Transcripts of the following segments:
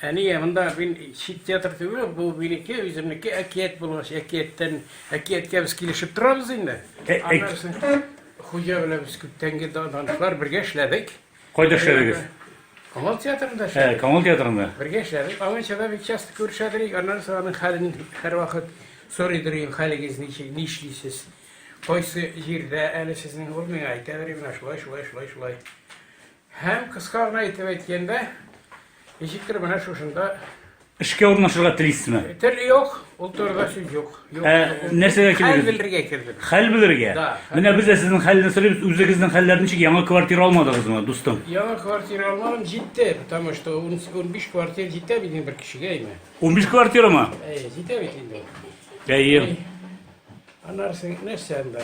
Әние, монда мин чит театр түгел, бу минеке, үземнеке әкият булгач, әкияттән, әкияткә без килешеп торабыз инде. Аннары хуҗа белән без күптәнге данышлар бергә эшләдек. Кайда эшләдегез? Камал театрында эшләдек. Ә, Камал театрында. Бергә эшләдек. Аңынча да бик часто күрешәдек. Аннары соң аның хәлен һәрвакыт сорый дөрим, хәлегез ничек, нишлисез? Кайсы җирдә әле сезнең ул миңа әйтә дөрим, менә шулай, шулай, шулай, шулай. Һәм, кыска гына итеп әйткәндә, ничектер менә шушында Эшкә урнашырга телисезме? Тел юк, ул турыда сүз юк. Юк. Ә, нәрсәгә килдегез? Хәл белергә килдем. Хәл белергә? Да. Менә без дә сезнең хәлне сорыйбыз, үзегезнең хәлләр ничек? Яңа квартира алмадыгызмы, дустым? Яңа квартира алмадым, җитте, потому что 15 квартира җитә бит инде бер кешегә инде. 15 квартирамы? Әй, җитә бит инде. Әйе. Аннары нәрсә анда?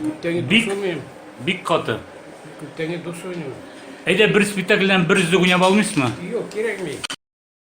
Күптәне Бик- дус уйныйм. Бик каты. Күптәне дус уйныйм. Әйдә бер спектакльдән бер өзек уйнап алмыйсызмы? Юк, кирәкми.